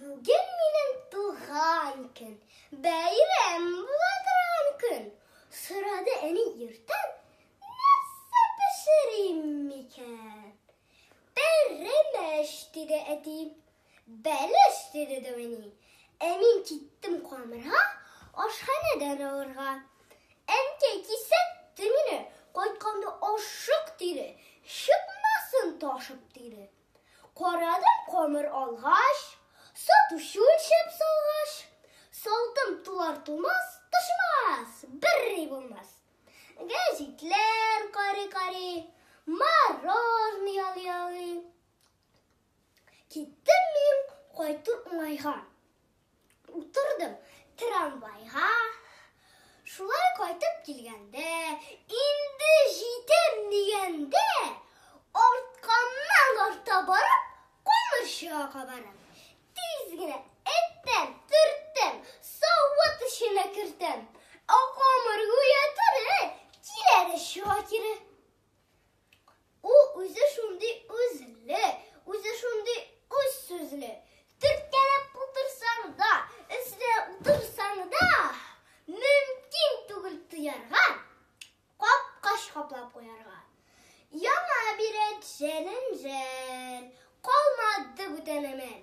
Бүген минем туган көн, бәйрәм була торган көн. Сорады әни иртән, нәрсә пешерим микән? Пәрәмәч, диде әти. Бәлеш, диде дә әни. Ә мин киттем камырга, ашханәдән алырга. Әнкәй кисәтте мине, кайтканда ашык, диде. Чыкмасын ташып, диде. Карадым камыр алгач, сатучы үлчәп салгач, салдым тулар тулмас, тошмас, бер рей булмас. Гәҗитләр кари-кари, мороженое ял-ялый. Киттем мин кайту уңайга. Утырдым трамвайга, шулай кайтып килгәндә, инде җитәм дигәндә, артканнан арта барып, камырчыга кабарам. Тиз генә эттән төрттем, савыт эченә кертәм. Ә камыр гүя тере, килә дә чыга кире. Ул үзе шундый үзле, үзе шундый үз сүзле. Төрткәләп утырсаң да, эзлә утырсаң да, мөмкин түгел тоярга, капкач каплап куярга. Яңа бирәт җәлен-җәл, калмады бүтән әмәл.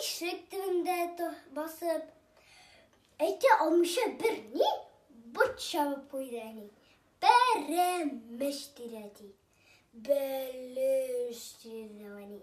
Ишек төбендә басып, әйтә алмыйча бер ни борт чабып куйды әни. Пәрәмеш тирә ди. Бәлеш тирә әни.